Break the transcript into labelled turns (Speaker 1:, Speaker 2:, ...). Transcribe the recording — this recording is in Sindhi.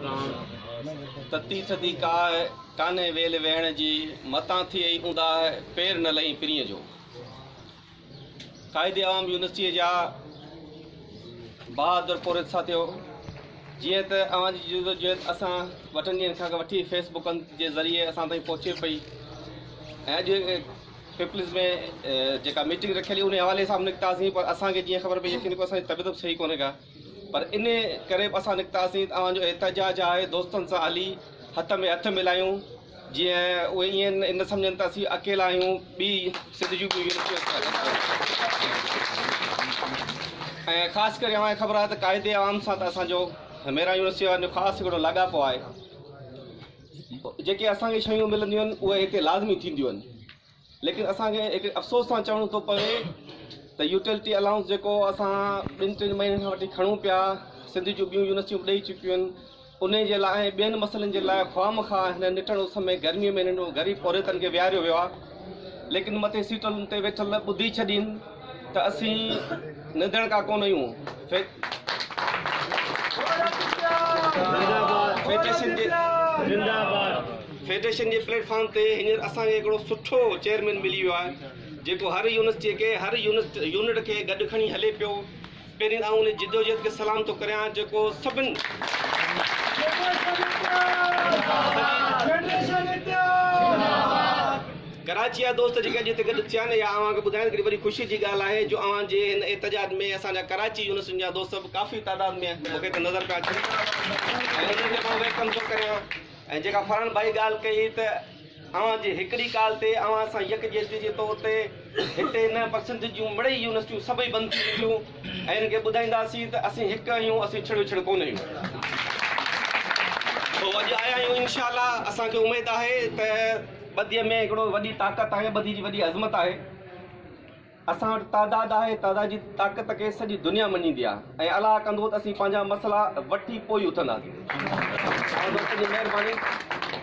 Speaker 1: راڻ، تتي ٿڌي ڪاهه، ڪانهي ويل ويهڻ جي، متان ٿئي ئي اونداهه، پير نه لهين پرينء جو. قائد عوام يونيورسٽيء جا بهادر پورهيت ساٿيو! جيئن ته اوهان جي جدوجهد اسان وٽن ڏينهن کان وٺي فيس بڪن جي ذريعي اسان تائين پهچي پئي ۽ اڄ پيپلز ۾ جيڪا ميٽنگ رکيل هئي، انهي حوالي سان به نڪتاسين، پر اسان کي جيئن خبر پئي، يقين ڪيو اسان جي طبيعت به صحيح ڪونهي ڪا. پر انهيء ڪري به اسان نڪتاسين ته اوهان جو احتجاج آهي، دوستن سان هلي هٿ ۾ هٿ ملايون، جيئن اهي ائين نه سمجهن ته اسين اڪيلا آهيون، ٻي سنڌ جون ٻيون يونيورسٽيون اسان سان گڏ آهن ۽ خاص ڪري اوهان کي خبر آهي ته قائد عام سان ته اسان جو ميران يونيورسٽيء وارن جو خاص هڪڙو لاڳاپو آهي، جيڪي اسان کي شيون ملنديون آهن، اهي هتي لازمي ٿينديون آهن. ليڪن اسان کي هڪڙي افسوس سان چوڻو ٿو پوي ته يوٽيلٽي الائونس جيڪو اسان ٻن ٽن مهينن کان وٺي کڻون پيا سنڌ جون ٻيون يونيورسٽيون به ڏئي چڪيون آهن انهي جي لاء ۽ ٻين مسئلن جي لاء خواهه مخواهه هن نٽڻ اس ۾ گرمي ۾ انهن غريب پورهيتن کي ويهاريو ويو آهي ليڪن مٿي سيٽن تي ويٺل ٻڌي ڇڏين ته اسين نندڻ ڪا ڪونه اهيون فيڊريشن جي فيڊريشن جي پليٽ فارم تي هينئر اسان کي هڪڙو سٺو چيئرمين ملي ويو آهي جيڪو هر يونيورسٽي کي هر يونٽ يونٽ کي گڏ کڻي هلي پيو پهرين آئون ان جدوجهد کي سلام ٿو ڪريان جيڪو سڀن ڪراچي جا دوست جيڪي اڄ هتي گڏ ٿيا آهن يا اوهان کي ٻڌائڻ ڪري وڏي خوشي جي ڳالهه آهي جو اوهان جي هن احتجاج ۾ اسان جا ڪراچي يونيورسٽين جا دوست به ڪافي تعداد ۾ مون کي هتي نظر پيا اچن ۽ انهن کي مان ويلڪم ٿو ڪريان ۽ جيڪا فرحان ڀائي ڳالهه ڪئي ته اوهان جي هڪڙي ڪال تي اوهان سان يڪجهتي جي طور تي هتي نه پر سنڌ جون مڙئي يونيورسٽيون سڀئي بند ٿي وينديون ۽ هن کي ٻڌائينداسين ته اسين هڪ آهيون اسين ڇڙ وڇڙ ڪونه آهيون سو اڄ آيا آهيون انشاء الله اسان کي اميد آهي ته ٻڌي ۾ هڪڙو وڏي طاقت آهي ٻڌي جي وڏي عظمت آهي اسان وٽ تعداد آهي تعداد جي طاقت کي سڄي دنيا مڃيندي آهي ۽ الله ڪندو ته اسين پنهنجا مسئلا وٺي پوء اٿنداسين مهرباني